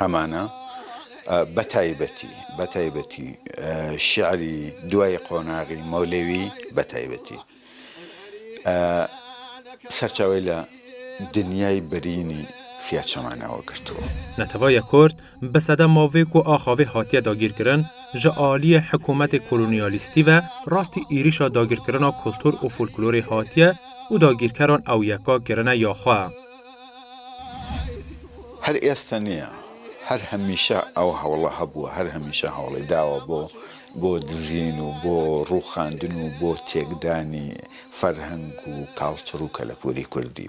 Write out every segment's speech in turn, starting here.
ئەمانە بە تایبەتی بە تایبەتی شعری دوای قۆناغی مۆلەوی بە تایبەتی سەرچاوی لە دنیای بەرینی سیاچەمانەوە گرتووە. نەتەوەێ کورد بە سەدە ماڤێک و ئاخاڤێ هاتیە داگیرکرن ژە ئالیێ حکوومەێ کۆلونیالیستی ڤە راستی ئیریشا داگیرکرنا کولتوور و فولکلورێ هاتیە و داگیرکەران ئەو یەکا گرنە یا خوە. هەر ئێستە نیە هەر هەمیشە ئەو هەوڵە هەبووە هەر هەمیشە هەوڵی داوە بۆ بۆ دزین و بۆ ڕووخاندن و بۆ تێکدانی فەرهەنگ و کاڵچڕ و کەلەپوری کوردی.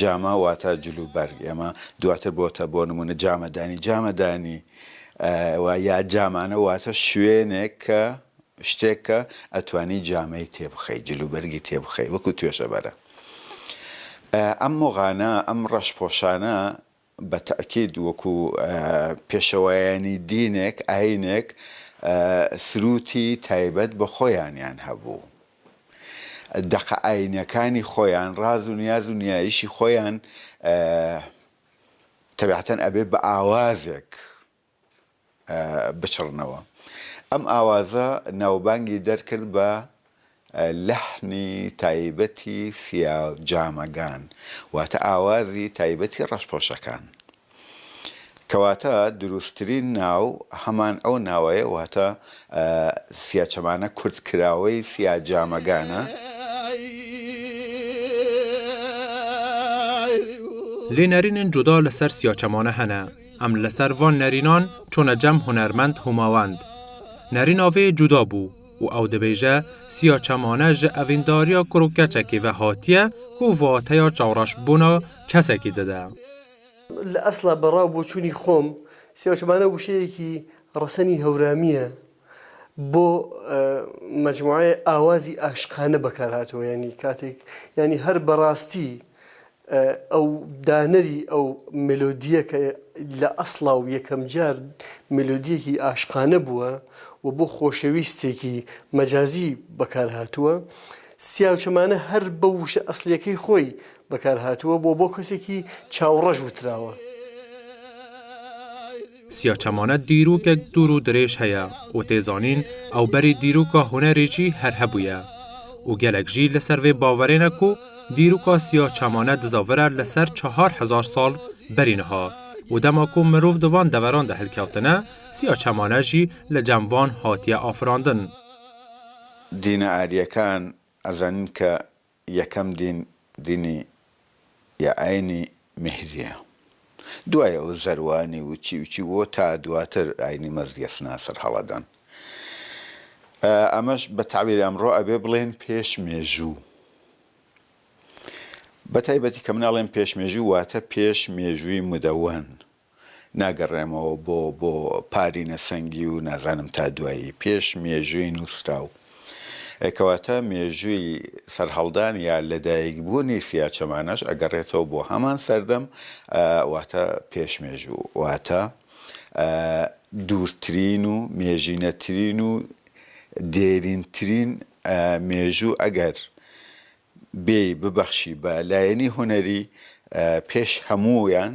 جامە واتە جل و بەرگ ئێمە دواتر بۆتە بۆ نمونە جامەدانی جامەدانی وە یا جامانە واتە شوێنێک کە شتێک کە ئەتوانی جامەی تێبخەی جل و بەرگی تێبخەی وەکو توێژەبەرە ئەم مۆغانە ئەم ڕەش پۆشانە بە تەئکید وەکو پێشەوایانی دینێک، ئاینێک سرووتی تایبەت بە خۆیانیان هەبوو. دەقە ئاینیەکانی خۆیان، ڕاز و نیاز و نیایشی خۆیان تەبعەتەن ئەبێ بە ئاوازێک بچڕنەوە. ئەم ئاوازە ناوبانگی دەرکرد بە لەحنی تایبەتی سیاجامەگان واتە ئاوازی تایبەتی ڕەشپۆشەکان. کەواتە دروستترین ناو هەمان ئەو ناوەیە واتە سیاچەمانە کورتکراوەی سیاجامەگانە. لێ نەرینن جودا لە سەر سیاچەمانە هەنە. ئەم لەسەر ڤۆن نەرینۆن چۆنە جەم هونەرمەند هوماوەند نەرینۆڤی جودا بوو و ئەو دەبێژە سیا چەمانە ژە ئەڤینداریا کوڕ و کەچەکی ڤە هاتیە و ڤاتەیا چاوڕەش بوونا کەسەکی ددە. لە ئەسڵا بە ڕا و بۆچوونی خۆم سیا چەمانە وشەیەکی ڕەسەنی هەورامییە بۆ مەجموعەی ئاوازی ئاشقانە بەکار هاتووە یانی کاتێک یانی هەر بە ڕاستی ئەو دانەری ئەو مێلۆدییە کە لە ئەسڵا و یەکەمجار مێلۆدییەکی ئاشقانە بووە و بۆ خۆشەویستێکی مەجازی بەکار هاتووە، سیاوچەمانە هەر بە وشە ئەسڵییەکەی خۆی بەکار هاتووە و بۆ کەسێکی چاوڕەش وتراوە. سیاچەمانە دیرووکێک دوور و درێژ هەیە و تێزانین ئەو بەری دیرووکا هونەرێ ژی هەر هەبوویە و گەلەک ژی لە سەر ڤێ باوەرێنە کو دیرووکا سیاچەمانە دزاڤرە لە سەر چەهار هەزار ساڵ بەرین ها و دەما کو مروڤ دو ڤان دەڤەران دە هلکەفتنە سیاچەمانە ژی لە جەم ڤان هاتیە ئافراندن. دینە ئارییەکان ئەزانین کە یەکەم دین دینی یا ئاینی میهریە دوای ئەوە زەروانی و چی و چی و تا دواتر ئاینی مەزدی ئەچنە سەر هەڵەدان ئەمەش بە تەعبیری ئەمڕۆ ئەبێ بڵێن پێش مێژوو بەتایبەتی کە مناڵێن پێش مێژوو واتە پێش مێژووی مدەوەن ناگەڕێمەوە بۆ بۆ پارینە سەنگی و نازانم تا دوایی پێش مێژووی نووسراو ئێ کەواتە مێژووی سەرهەڵدان یا لەدایک بوونی سیاچەمانەش ئەگەڕێتەوە بۆ هەمان سەردەم ئە واتە پێش مێژوو واتە ئە دوورترین و مێژینەترین و دێرینترین ئە مێژوو ئەگەر بێی ببەخشی بە لایەنی هونەری ئە پێش هەموویان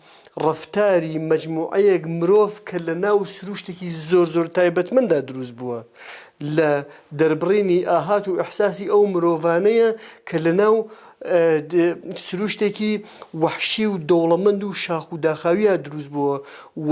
ڕەفتاری مەجموعەیەک مرۆڤ کە لە ناو سروشتێکی زۆر زۆر تایبەتمەندا دروست بووە لە دەربڕینی ئاهات و ئیحساسی ئەو مرۆڤانەیە کە لە ناو سروشتێکی وەحشی و دەوڵەمەند و شاخ و داخاویا دروست بووە و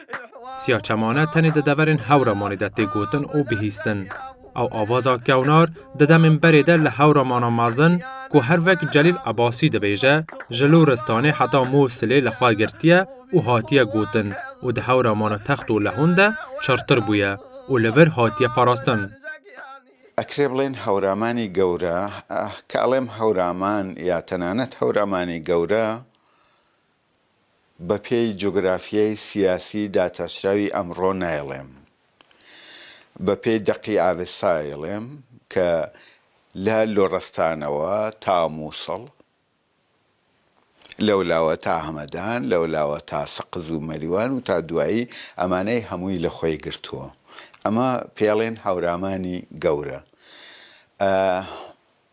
سیا چەمانە تەنێ دە دەڤەرێن هەورە مانێ دە تێ گۆتن ئۆ بهیستن. ئەو ئاڤازا کەونار دە دەمێن بەرێ دە لە هەورە مانا مەزن کو هەر ڤەک جەلیل عەباسی دبێژە، ژە لۆ رستانێ حەتا مۆ سلێ لە خوە گرتیە ئۆ هاتیە گۆتن ئۆ دە هەورە مانا تەخت ئۆ لە هۆن دە چڕتر بویە ئۆ لە ڤەر هاتیە پاراستن. ئەکرێ بڵێن هەورامانی گەورە، کە ئەڵێم هەورامان یا تەنانەت هەورامانی گەورە، بەپێی جوگرافیای سیاسی داتاشراوی ئەمڕۆ نایڵێم، بەپێی دەقی ئاڤێستا ئەیڵێم کە لە لۆڕستانەوە تا مووسڵ، لەولاوە تا هەمەدان، لەولاوە تا سەقز و مەریوان و تا دوایی، ئەمانەی هەمووی لە خۆی گرتووە. ئەمە پێڵێن هەورامانی گەورە.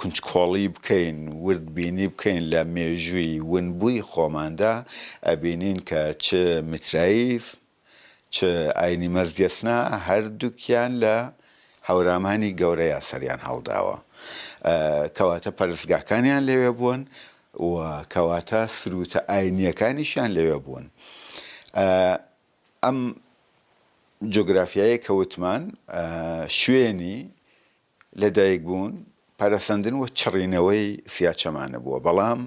کونجکۆڵی بکەین ورد بینی بکەین لە مێژووی ونبووی خۆماندا ئەبینین کە چ میتراییزم چ ئاینی مەزگەسنا هەردووکیان لە هەورامانی گەورەیا سەریان هەڵداوە کەواتە پەرستگاکانیان لەوێ بوون و کەواتە سروتە ئاینیەکانیشیان لەوێ بوون ئەم جۆگرافیایە کەوتمان شوێنی لەدایکبوون، پەرەسەندن و چڕینەوەی سیاچەمانە بووە، بەڵام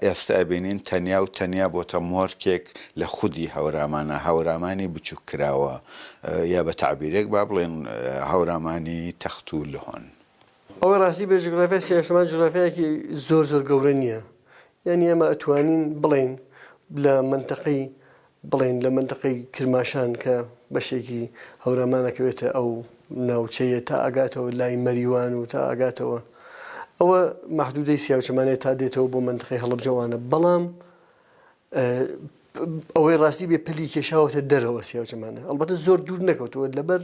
ئێستە ئەبینین تەنیا و تەنیا بۆتە مۆرکێک لە خودی هەورامانە، هەورامانی بچووک کراوە یا بە تەعبیرێک با بڵێین هەورامانی تەخت و لهۆن. ئەوەی ڕاستی بێت جوگرافیای سیاچەمان جوگرافیایەکی زۆر زۆر گەورە نییە، یانی ئێمە ئەتوانین بڵێین لە مەنتەقەی بڵێین لە مەنتەقەی کرماشان کە بەشێکی هەورامان ئەکەوێتە ئەو ناوچەیە تا ئەگاتەوە لای مەریوان و تا ئەگاتەوە ئەوە مەحدودەی سیاوچەمانێ تا دێتەوە بۆ مەنتەقەی هەڵەبجەوانە بەڵام ئەوەی ڕاستی بێ پلی کێشاوەتە دەرەوە سیاوچەمانە ئەڵبەتە زۆر دوور نەکەوتووە لەبەر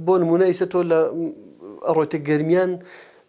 بۆ نمونە ئیسە تۆ لە ئەڕۆتە گەرمیان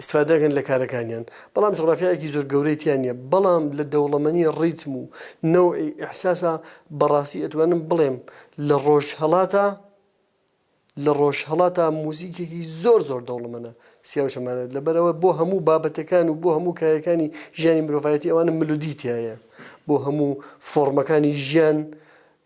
ئیستفادە ئەکەن لە کارەکانیان بەڵام جوغرافیایەکی زۆر گەورەی تیا نیە بەڵام لە دەوڵەمەنی ڕیتم و نەوعی ئیحساسا بەڕاستی ئەتوانم بڵێم لە ڕۆژهەڵاتا لە ڕۆژهەڵاتا موزیکێکی زۆر زۆر دەوڵەمەنە سیاوچەمانێت لەبەرەوە بۆ هەموو بابەتەکان و بۆ هەموو کایەکانی ژیانی مرۆڤایەتی ئەوانە ملودی تایە بۆ هەموو فۆڕمەکانی ژیان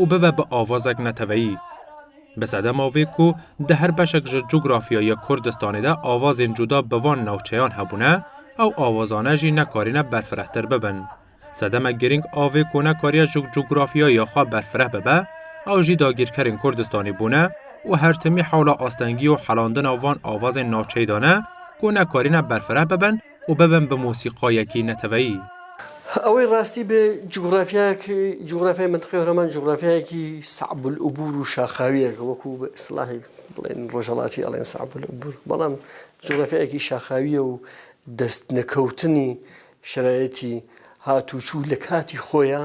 و ببە بە ئاوازێک نەتەوەیی. بە زەدە ماوەیەک و دە هەر بەشێک ژە جوگرافیا یە کوردستانیدا ئاوازێن جودا بە وان ناوچەیان هەبوونە، ئەو ئاوازانە ژی نەکارینە بەرفرەهتر ببن. سەدەمە گرینگ ئاوێک و نەکاریە ژوگ جوگرافیا یا خوا بەرفرە ببە، ئەو ژی داگیرکەرین کوردستانی بوونە و هەرتمی حەولا ئاستەنگی و حەلاندنا وان ئاوازێن ناوچەیدانە کو نەکارینە بەرفرە ببن، و ببم بە مۆسیقایەکی نەتەوەیی. ئەوەی ڕاستی بێ جوگرافیای مەنتقی هۆرامان جوگرافیایەکی سەعب العبور و شاخاویە وەکو بە ئیسلاحی بڵێن ڕۆژەڵاتی ئەڵێن سەعب العبور بەڵام جوگرافیایەکی شاخاویە و دەست نەکەوتنی شەرایەتی هاتوچوو لە کاتی خۆیە،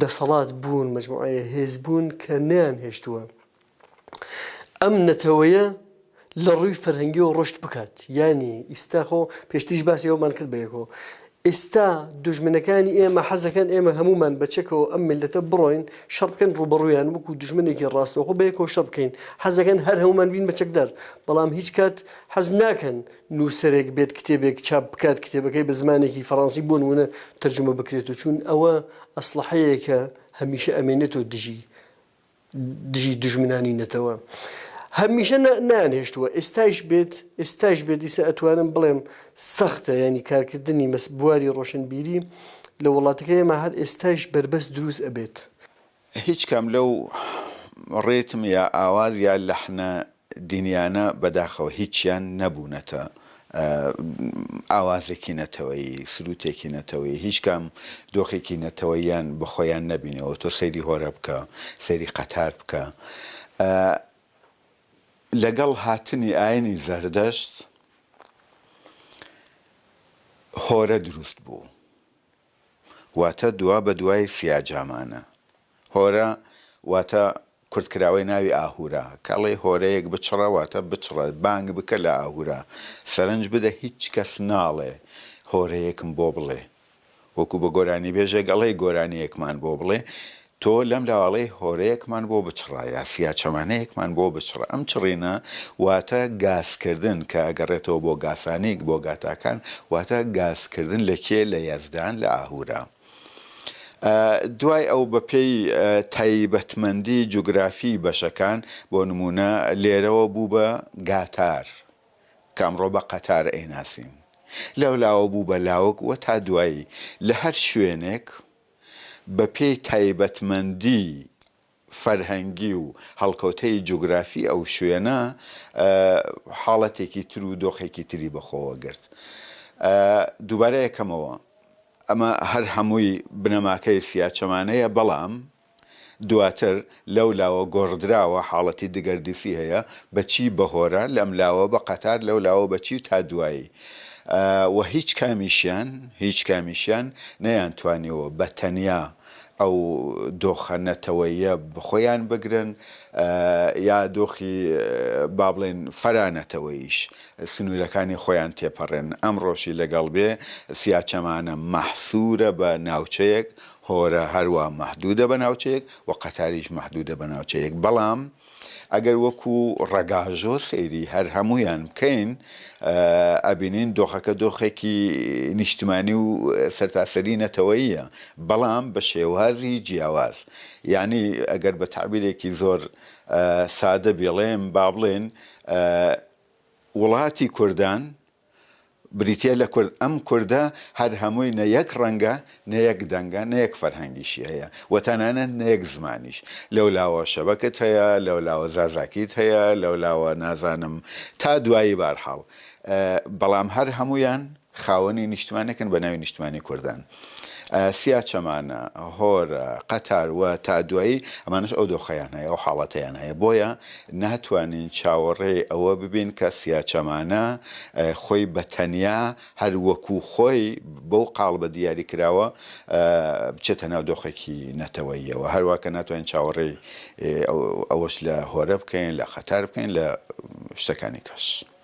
دەسەڵات بوون مەجموعەیە هێز بوون کە نەیانهێشتووە ئەم نەتەوەیە لە ڕووی فەرهەنگیەوە ڕۆشت بکات یانی ئیستا خۆ پێشتیش باسی ئەومان کرد بەیەکۆ ئێستا دوژمنەکانی ئێمە حەزەکەن ئێمە هەمومان بەچەکەوە ئەم ملەتە بڕۆین شەڕ بکەن ڕوبەڕویان وەکو دوژمنێکی ڕاستەوخۆ بەیەکەوە شەڕ بکەین حەزەکەن هەر هەمومان بین بەچەکدار بەڵام هیچ کات حەز ناکەن نووسەرێک بێت کتێبێک چاپ بکات کتێبەکەی بە زمانێکی فەڕەنسی بۆ نموونە تەرجومە بکرێت و چوون ئەوە ئەسڵەحەیەکە هەمیشە ئەمێنێتەوە دژی دژی دوژمنانی نەتەوە هەمیشە نانهێشتووە ئێستایش بێت ئێستایش بێت دیسە ئەتوانم بڵێم سەختە ینی کارکردنی مەس بواری ڕۆشنبیری لە وڵاتەکە ئێمە هەر ئێستایش بربەست دروست ئەبێت هیچ کام لەو ڕێتم یا ئاواز یا لەحنە دینیانە بەداخەوە هیچیان نەبوونەتە ئاوازێکی نەتەوەیی سروتێکی نەتەوەیی هیچ کام دۆخێکی نەتەوەییان بە خۆیان نەبینەوە تۆ سەیری هۆرە بکە سەیری قەتار بکە لەگەڵ هاتنی ئاینی زەردەشت هۆرە دروست بوو. واتە دوا بە دوای سیاجامانە. هۆرە واتە کورتکراوەی ناوی ئاهورا. کە ئەڵێی هۆرەیەک بچڕە واتە بچڕە، بانگ بکە لە ئاهورا، سەرنج بدە هیچ کەس ناڵێ هۆرەیەکم بۆ بڵێ. وەکوو بە گۆرانیبێژێک ئەڵێی گۆرانییەکمان بۆ بڵێ، تۆ لەم لاواڵەی هۆرەیەکمان بۆ بچڕە یا فیا چەمانەیەکمان بۆ بچڕە، ئەم چڕینە واتە گاسکردن کە ئەگەڕێتەوە بۆ گاسانیک بۆ گاتاکان واتە گاسکردن لە کێ لە یەزدان لە ئاهورا ئە دوای ئەو بە پێی تایبەتمەندی جوگرافی بەشەکان بۆ نموونە لێرەوە بوو بە گاتار کە ئەمڕۆ بە قەتار ئەیناسین لەو لاوە بوو بە لاوک وە تا دوایی لە هەر شوێنێک بەپێی تایبەتمەندیی فەرهەنگی و هەڵکەوتەی جوگرافی ئەو شوێنە حاڵەتێکی تر و دۆخێکی تری بەخۆوە گرت. دووبارە ئەکەمەوە، ئەمە هەر هەمووی بنەماکەی سیاچەمانەیە، بەڵام دواتر لەو لاوە گۆڕدراوە حاڵەتی دگەردیسی هەیە بە چی بە هۆرە لەم لاوە بە قەتار لەو لاوە بە چی تا دوایی وە هیچ کامیشیان هیچ کامیشیان نەیانتوانیوە بە تەنیا ئەو دۆخە نەتەوەییە بەخۆیان بگرن یا دۆخی با بڵێن فەرا نەتەوەییش سنورەکانی خۆیان تێپەڕێن ئەمڕۆشی لەگەڵ بێ سیاچەمانە مەحسورە بە ناوچەیەک هۆرە هەروا مەحدودە بە ناوچەیەک و قەتاریش مەحدودە بە ناوچەیەک بەڵام ئەگەر وەکو ڕەگاژۆ سەیری هەر هەموویان بکەین ئەبینین دۆخەکە دۆخێکی نیشتمانی و سەرتاسەری نەتەوەیە بەڵام بە شێوازی جیاواز یعنی ئەگەر بە تعبیرێکی زۆر سادە بێڵێم با بڵێن وڵاتی کوردان بریتیە لە کورد، ئەم کوردە هەر هەمووی نە یەک ڕەنگە، نە یەک دەنگە، نە یەک فەرهەنگیشی هەیە و تەنانەت نە یەک زمانیش. لەولاوە شەبەکت هەیە، لەولاوە زازاکیت هەیە، لەولاوە نازانم تا دوایی بارحاڵ. بەڵام هەر هەموویان خاوەنی نیشتمانێکن بە ناوی نیشتمانی کوردان. سیا چەمانە، هۆرە، قەتار و تا دوایی ئەمانەش ئەو دۆخەیان هەیە، ئەو حاڵەتەیان هەیە، بۆیە ناتوانین چاوەڕێی ئەوە ببین کە سیا چەمانە خۆی بە تەنیا هەر وەکو خۆی بەو قاڵبە دیاری کراوە بچێتە ناو دۆخێکی نەتەوەییەوە، هەروا کە ناتوانین چاوەڕێی ئەوەش لە هۆرە بکەین، لە قەتار بکەین، لە شتەکانی کەش.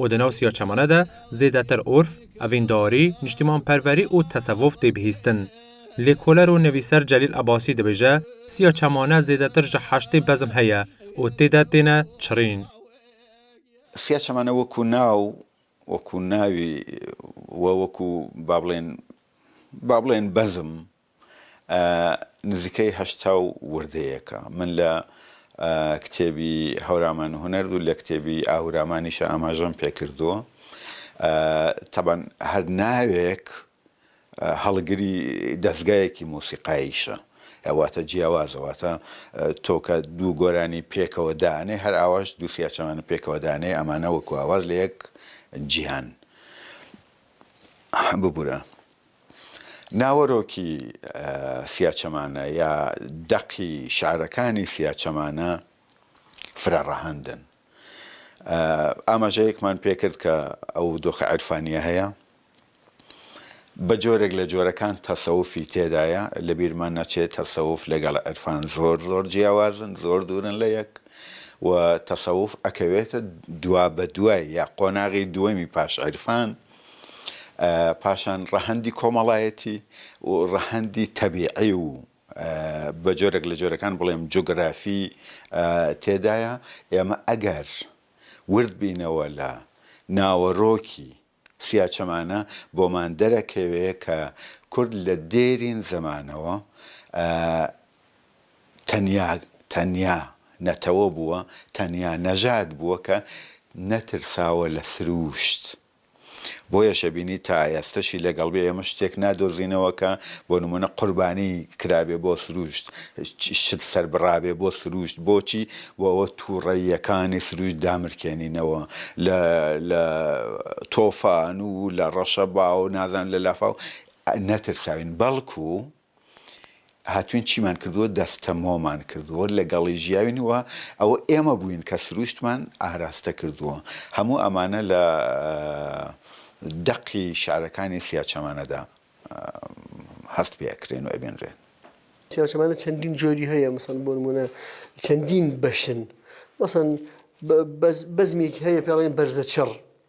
و دە ناو سیا چەمەنە دە زێدەتر ئورف، ئەڤینداری، نیشتیمانپەروەری و تەسەوف تێ بهیستن. لێکۆلەر و نویسەر جەلیل ئەباسی دبیژە، سیا چەمانە زێدەتر جە حەشتێ بەزم هەیە و تێدا تێنە چڕین. سیا چەمەنە وەکوو ناو، وەکوو ناوی و وەکوو با بڵێن با بڵێن بەزم نزیکەی هەشتا و وردەیەکە من لە کتێبی هەورامان هونەر و لە کتێبی ئاهورامانیشە ئاماژەم پێکردووە تەبەن هەر ناوێک هەڵگری دەستگایەکی مۆسیقاییشە ئەواتە جیاوازەواتە تۆکە دوو گۆرانی پێکەوە دانێ هەر ئاواش دووسیا چەمانە پێکەوە دانێ ئەمانە وەکو ئاواز لە یەک جیهان ببورە ناوەرۆکی سیاچەمانە یا دەقی شعرەکانی سیاچەمانە فرە ڕەهەندن. ئاماژەیەکمان پێ کرد کە ئەو دۆخە عیرفانییە هەیە، بە جۆرێک لە جۆرەکان تەسەوفی تێدایە، لە بیرمان نەچێ تەسەوف لەگەڵ عیرفان زۆر زۆر جیاوازن، زۆر دوورن لە یەک و تەسەوف ئەکەوێتە دوابەدوای یا قۆناغی دووەمی پاش عیرفان، پاشان ڕەهەندی کۆمەڵایەتی و ڕەهەندی تەبیعی و بە جۆرێک لە جۆرەکان بڵێم جوگرافی تێدایە ئێمە ئەگەر ورد بینەوە لە ناوەرۆکی سیاچەمانە بۆمان دەرەکەوێ کە کورد لە دێرین زمانەوە تەنیا تەنیا نەتەوە بووە، تەنیا نەژاد بووە کە نەترساوە لە سرووشت. بۆیەش ئەبینی تا ئێستەشی لەگەڵ بێ ئێمە شتێک نادۆزینەوە کە بۆ نموونە قوربانی کرابێ بۆ سرووشت، شت سەر بڕابێ بۆ سرووشت. بۆچی؟ بۆ ئەوە تووڕەییەکانی سرووشت دامرکێنینەوە لە لە تۆفان و لە ڕەشەبا و نازانم لە لافاو نەترساوین. بەڵکوو. هاتووین چیمان کردووە دەستەمۆمان کردووە لەگەڵی ژیاوین و ئەوە ئێمە بووین کە سرووشتمان ئاراستە کردووە هەموو ئەمانە لە دەقی شعرەکانی سیاچەمانەدا هەست پێ ئەکرێن و ئەبینرێن. سیاچەمانە چەندین جۆری هەیە مەسەن بۆ نموونە چەندین بەشن مەسەن بەزمێکی هەیە پێڵێن بەرزەچڕ،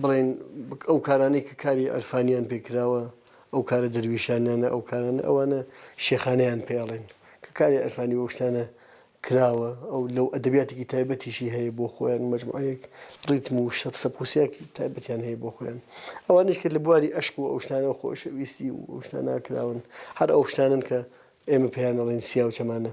بڵێن ئەو کارانەی کە کاری عرفانیان پێ کراوە، ئەو کارە دەرویشانانە، ئەو کارانە ئەوانە شێخانەیان پێ ئەڵێن، کە کاری عرفانی بەو شتانە کراوە، ئەو لەو ئەدەبیاتێکی تایبەتیشی هەیە بۆ خۆیان، مەجموعەیەک ڕیتم و شەپ سەپ و سیاقی تایبەتیان هەیە بۆ خۆیان. ئەوانەیش کە لە بواری ئەشق و ئەو شتانە و خۆشەویستی و ئەو شتانە کراون، هەر ئەو شتانەن کە ئێمە پێیان ئەڵێین سیاوچەمانە.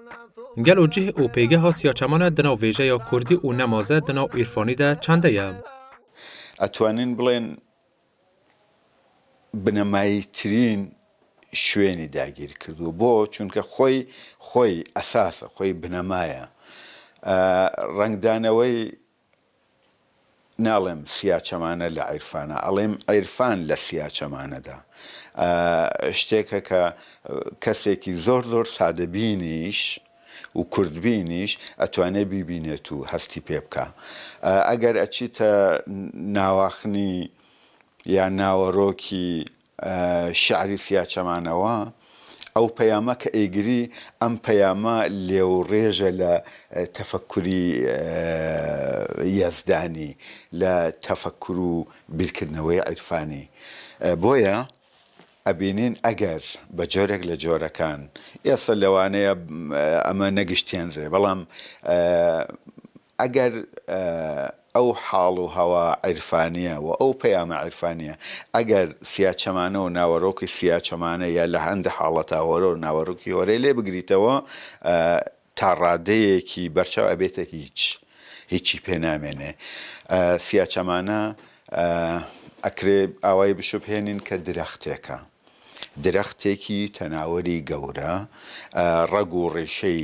گەل و جه و پێگه و سیاچەمانە دناو وێژە یا کوردی و نەمازە دناو ئیرفانی دە چەندە یە؟ ئەتوانین بڵێن بنەماییترین شوێنی داگیرکردووە بۆ؟ چونکە خۆی خۆی ئەساسە خۆی بنەمایە ڕەنگدانەوەی ناڵێم سیاچەمانە لە عیرفانا ئەڵێم عیرفان لە سیاچەمانەدا شتێکە کە کەسێکی زۆر زۆر سادەبینیش و کوردبینیش ئەتوانێ بیبینێت و هەستی پێ بکا ئەگەر ئەچیتە ناواخنی یا ناوەرۆکی شعری سیاچەمانەوە، ئەو پەیامە کە ئەیگری ئەم پەیامە لێوڕێژە لە تەفەککوری یەزدانی، لە تەفەککور و بیرکردنەوەی عیرفانی. بۆیە ئەبینین ئەگەر بە جۆرێک لە جۆرەکان، ئێستا لەوانەیە ئەمە نەگشتێنرێ، بەڵام ئەگەر ئەو حاڵ و هەوا عیرفانییە و ئەو پەیامە عیرفانییە، ئەگەر سیاچەمانە و ناوەرۆکی سیاچەمانە یا لە هەندێ حاڵەتا هۆرە و ناوەرۆکی هۆرەی لێ بگریتەوە، تا ڕادەیەکی بەرچاو ئەبێتە هیچ، هیچی پێ نامێنێ. سیاچەمانە ئەکرێ ئاوای بشوبهێنین کە درەختێکە، درەختێکی تەناوەری گەورە، ڕەگ و ڕیشەی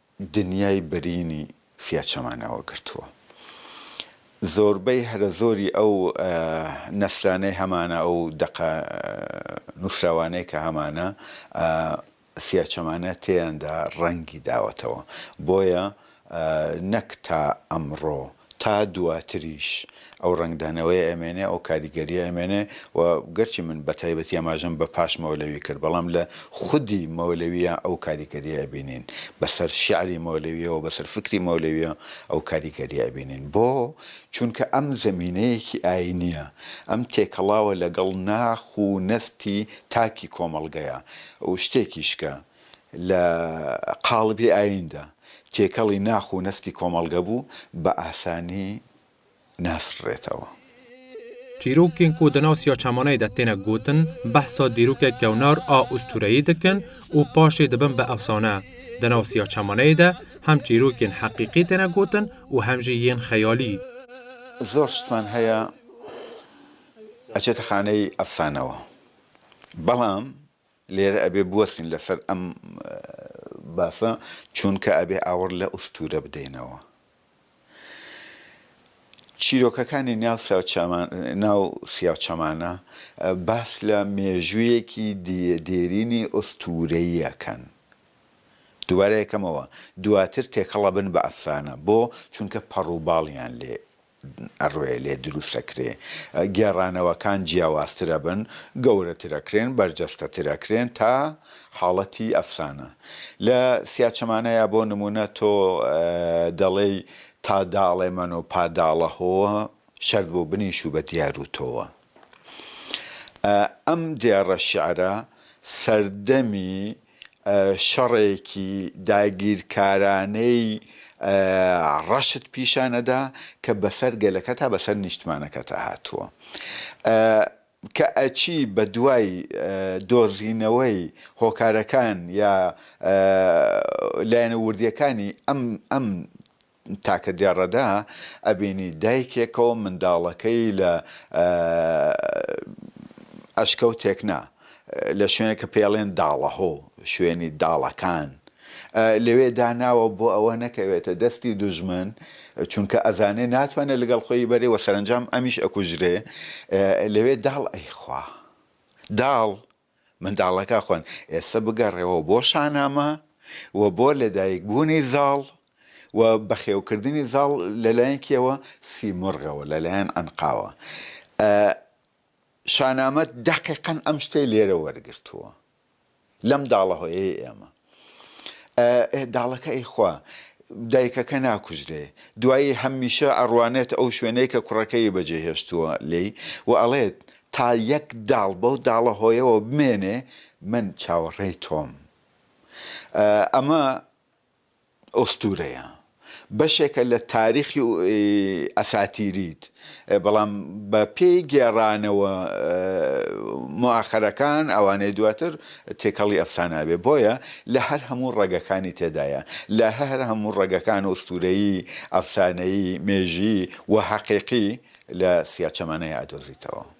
دنیای بەرینی فیاچەمانەوە گرتووە زۆربەی هەرە زۆری ئەو نەسرانەی هەمانە ئەو دەقە نووسراوانەی کە هەمانە فیاچەمانە تێیاندا ڕەنگی داوەتەوە بۆیە نەک تا ئەمڕۆ تا دواتریش ئەو ڕەنگدانەوەیە ئەمێنێ، ئەو کاریگەرییە ئەمێنێ و گەرچی من بە تایبەتی ئاماژەم بە پاش مەولەوی کرد، بەڵام لە خودی مەولەوییە ئەو کاریگەرییە ئەبینین. بە سەر شیعری مەولەوییەوە، بە سەر فیکری مەولەوییە ئەو کاریگەرییە ئەبینین. بۆ؟ چونکە ئەم زەمینەیەکی ئایینییە، ئەم تێکەڵاوە لەگەڵ ناخ و نەستی تاکی کۆمەڵگەیە و شتێکیش کە، لە قاڵبی ئاییندا تێکەڵی ناخ و نەستی کۆمەڵگە بوو، بە ئاسانی ناسڕرێتەوە. چیرووکێن کو دە ناو سیاچەمانەیدا تێنە گۆتن، بەحسا دیرووکێ کەونار ئا ئوستوورەیی دکن و پاشێ دبن بە ئەفسانە. دە ناو سیاچەمانەیدا هەم چیرووکێن حەقیقی تێنە گۆتن و هەم ژی یێن خەیالی. زۆر شتمان هەیە ئەچێتە خانەی ئەفسانەوە، بەڵام. لێرە ئەبێ بوەستین لەسەر ئەم باسە چوونکە ئەبێ ئاوڕ لە ئوستوورە بدەینەوە. چیرۆکەکانی ناو سیاوچەمان ناو سیاوچەمانە باس لە مێژوویەکی دێرینی ئوستوورەیی ئەکەن. دووبارە یەکەمەوە دواتر تێکەڵ ئەبن بە ئەفسانە. بۆ؟ چوونکە پەڕوباڵیان لێ ئەڕوێ لێ دروست ئەکرێ گێڕانەوەکان جیاوازتر ئەبن گەورەتر ئەکرێن بەرجەستەتر ئەکرێن تا حاڵەتی ئەفسانە لە سیاچەمانەیا بۆ نموونە تۆ دەڵێی تا داڵێ مەنۆ پا داڵە هۆوە شەرت بۆ بنیشوو بە دیار و تۆوە ئەم دێڕە شیعرە سەردەمی شەڕێکی داگیرکارانەی ڕەشت پیشان ئەدا کە بەسەر گەلەکەتا بەسەر نیشتمانەکەتا هاتووە کە ئەچی بە دوای دۆزینەوەی هۆکارەکان یا لایەنە وردیەکانی ئەم ئەم تاکە دێڕەدا ئەبینی دایکێکەو منداڵەکەی لە ئەشکەوتێک نا لە شوێنێک کە پێڵێن داڵەهۆ شوێنی داڵەکان لەوێ داناوە بۆ ئەوە نەکەوێتە دەستی دوژمن چونکە ئەزانێ ناتوانێت لەگەڵ خۆی بەرێ وە سەرنجام ئەمیش ئەکوژرێ لەوێ داڵ ئەیخوا داڵ منداڵەکە خۆن ئێستا بگەڕێوە بۆ شانامە و بۆ لەدایک بوونی زاڵ و بەخێوکردنی زاڵ لەلایەن کێوە سیمرغەوە لەلایەن عنقاوە ئە شانامە دەقیقەن ئەم شتەی لێرە وەرگرتووە لەم داڵەهۆیەی ئێمە. ئەه داڵەکە ئەی خوا دایکەکە ناکوژرێ دوایی هەممیشە ئەڕوانێت ئەو شوێنەی کە کوڕەکەی بەجێ هێشتووە لێی و ئەڵێت تا یەک داڵ بەو داڵە هۆیەوە بمێنێ من چاوەڕێی تۆم ئەمە ئوستورەیە بەشێکە لە تاریخی ئەساتیریت بەڵام بە پێی گێڕانەوە موئاخەرەکان ئەوانەی دواتر تێکەڵی ئەفسانە بێ بۆیە لە هەر هەموو ڕەگەکانی تێدایە لە هەر هەموو ڕەگەکان و ئوستورەیی ئەفسانەیی مێژیی و هەقیقی لە سیاچەمانەیە ئەدۆزیتەوە.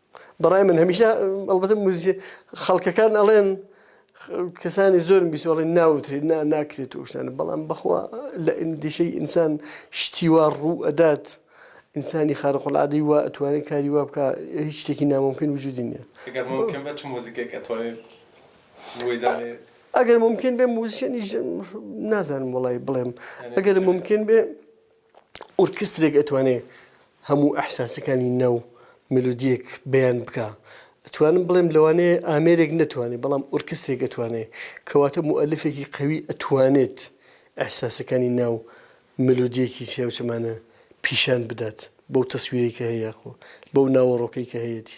بەڕای من هەمیشە ئەڵبەتە موزیک خەڵکەکان ئەڵێن کەسانی زۆرم بیست ئەڵێن ناوترێت نا ناکرێت و شتانە بەڵام بەخوا لە ئەندیشەی ئینسان شتیوا ڕوو ئەدات ئینسانی خارقڵادەی وا ئەتوانێت کاری وا بکە هیچ شتێکی ناممکن وجودی نیە ئەگەر ممکن بە چ موزیکێک ئەتوانێت ڕووی دانێت ئەگەر ممکن بێ موزیشنی نازانم وڵی بڵێم ئەگەر ممکن بێ ئۆرکسترێک ئەتوانێ هەموو ئەحساسەکانی ناو مێلۆدیەک بەیان بکا ئەتوانم بڵێم لەوانەیە ئامێرێک نەتوانێت بەڵام ئۆرکسترێک ئەتوانێت کەواتە موئەلفێکی قوی ئەتوانێت ئەحساسەکانی ناو مێلۆدیەکی چیا و چەمانە پیشان بدات بەو تەسویرەی کە هەیە یاخۆ بەو ناوەڕۆکەی کە هەیەتی.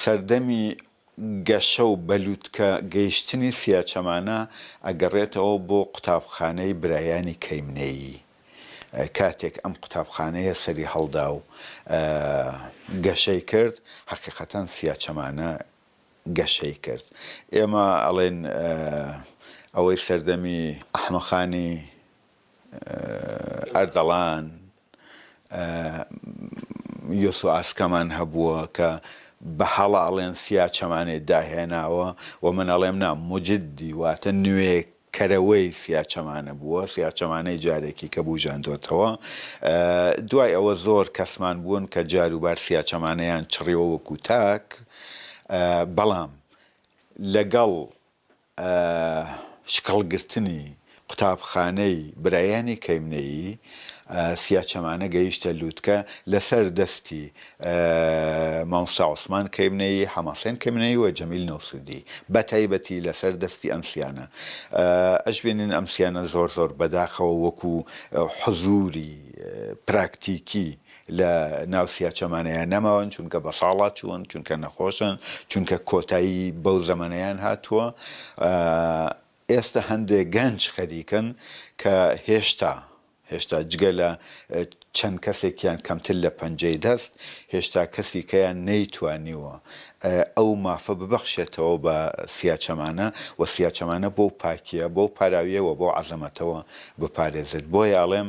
سەردەمی گەشە و بە لوتکە گەیشتنی سیاچەمانە ئەگەڕێتەوە بۆ قوتابخانەی برایانی کەیمنێیی کاتێک ئەم قوتابخانەیە سەری هەڵدا و گەشەی کرد حەقیقەتەن سیاچەمانە گەشەی کرد ئێمە ئەڵێن ئەوەی سەردەمی ئەحمەقانی ئەردەڵان، یۆسوئاسکەمان هەبووە کە بە هەڵاڵێن سیا چەمانێ داهێناوە و من ئەڵێم نا، موجدی واتە نوێ کەرەوەی سیا چەمانە بووە، سیا چەمانەی جارێکی کە بووژاندۆتەوە. دوای ئەوە زۆر کەسمان بوون کە جار و بار سیا چەمانەیان چڕیوە وەکوو تاک، بەڵام لەگەڵ شکڵگرتنی قوتابخانەی برایانی کەیمنەیی سیاچەمانە گەیشتە لووتکە لەسەر دەستی مامۆستا عوسمان کەیمنەیی، حەمەحسێن کەیمنەیی و جەمیل نەوسودی بەتایبەتی لەسەر دەستی ئەم سیانە ئەشبینین ئەم سیانە زۆر زۆر بەداخەوە وەکو حزووری پراکتیکی لە ناو سیا چەمانەیا نەماون، چونکە بە ساڵا چوون، چونکە نەخۆشن، چونکە کۆتایی بەو زەمەنەیان هاتووە. ئێستە هەندێک گەنج خەریکن کە هێشتا، هێشتا جگە لە چەند کەسێکیان کەمتر لە پەنجەی دەست، هێشتا کەسیکەیان نەیتوانیوە ئەو مافە ببەخشێتەوە بە سیا چەمانە و سیا چەمانە بەو پاکییە، بەو پاراوییە و بەو عەزەمەتەوە بپارێزێت. بۆیە ئەڵێم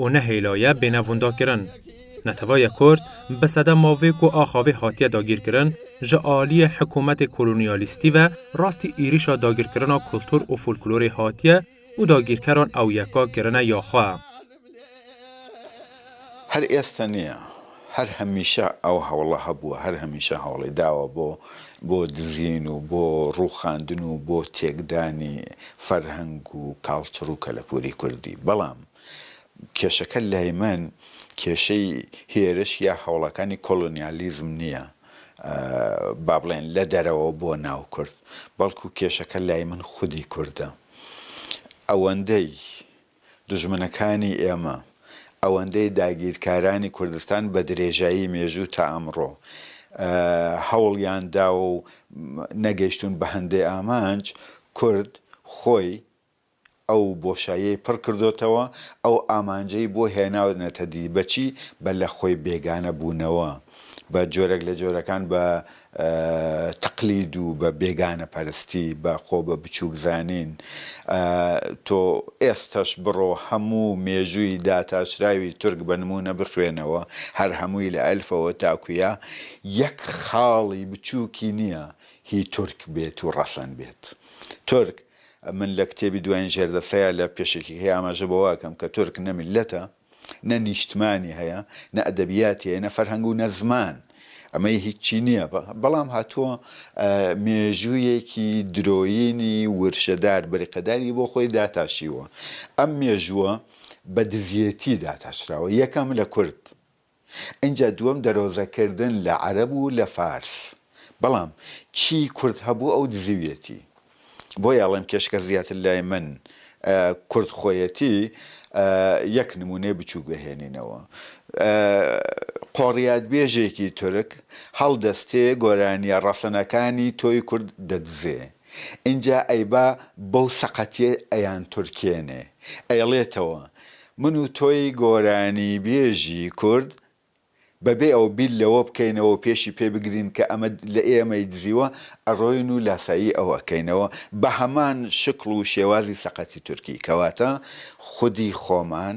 و نە هێلایە بێناڤونداکرن. نەتەڤاێ کورد بە سەدە ماڤێک و ئاخاڤێ هاتیە داگیرکرن ژە ئالیێ حکوومەتێ کولونیالیستی ڤە راستی ئیریشا داگیرکرنا کولتوور و فولکلورێ هاتیە و داگیرکەران ئەو یەکا کرنە یا خوە. هەر ئێستا نیە هەر هەمیشە ئەو هەوڵە هەبووە هەر هەمیشە هەوڵی داوە بۆ بۆ دزین و بۆ رووخاندن و بۆ تێکدانی فەرهەنگ و کاڵچڕ و کەلەپووری کوردی بەڵام کێشەکە لای من کێشەی هێرش یا هەوڵەکانی کۆلۆنیالیزم نییە با بڵێن لە دەرەوە بۆ ناو کورد، بەڵکو کێشەکە لای من خودی کوردە. ئەوەندەی دوژمنەکانی ئێمە، ئەوەندەی داگیرکارانی کوردستان بە درێژایی مێژوو تا ئەمڕۆ هەوڵیان داوە و نەگەیشتوون بە هەندێ ئامانج، کورد خۆی ئەو بۆشاییەی پڕ کردۆتەوە، ئەو ئامانجەی بۆ هێناونەتە دی، بە چی؟ بە لە خۆی بێگانە بوونەوە، بە جۆرێک لە جۆرەکان بە تەقلید و بە بێگانە پەرستی، بە خۆ بە بچووک زانین. تۆ ئێستەش بڕۆ هەموو مێژووی داتاشراوی تورک بە نموونە بخوێنەوە، هەر هەمووی لە ئەلفەوە تاکوو یا، یەک خاڵی بچووکی نییە هی تورک بێت و ڕەسەن بێت. تورک من لە کتێبی دوایین ژێردەستەیا لە پێشەکییەکەی ئاماژە بەوە ئەکەم کە تورک نە میللەتە، نە نیشتمانی هەیە، نە ئەدەبیاتی هەیە، نە فەرهەنگ و نە زمان. ئەمەی هیچی نییە. بەڵام هاتووە مێژوویەکی درۆیینی ورشەدار، بریقەداری بۆ خۆی داتاشیوە. ئەم مێژووە بە دزییەتی داتاشراوە. یەکەم لە کورد. ئینجا دووەم دەرۆزە کردن لە عەرەب و لە فارس بەڵام چی کورد هەبوو ئەو دزیویەتی بۆیە ئەڵێم کێشەکە زیاتر لای من کورد خۆیەتی یەک نمونەی بچوک بهێنینەوە قۆڕیات بێژێکی تورک هەڵدەستێ گۆرانیە ڕەسەنەکانی تۆی کورد دەدزێ ئینجا ئەیبا بەو سەقەتیە ئەیانتورکێنێ ئەیڵێتەوە من و تۆی گۆرانی بێژی کورد بەبێ ئەوە بیر لەوە بکەینەوەو پێشی پێ بگرین کە ئەمە لە ئێمەی دزیوە ئەڕۆین و لاسایی ئەو ئەکەینەوە بەهەمان شکڵ و شێوازی سەقەتی تورکی کەواتە خودی خۆمان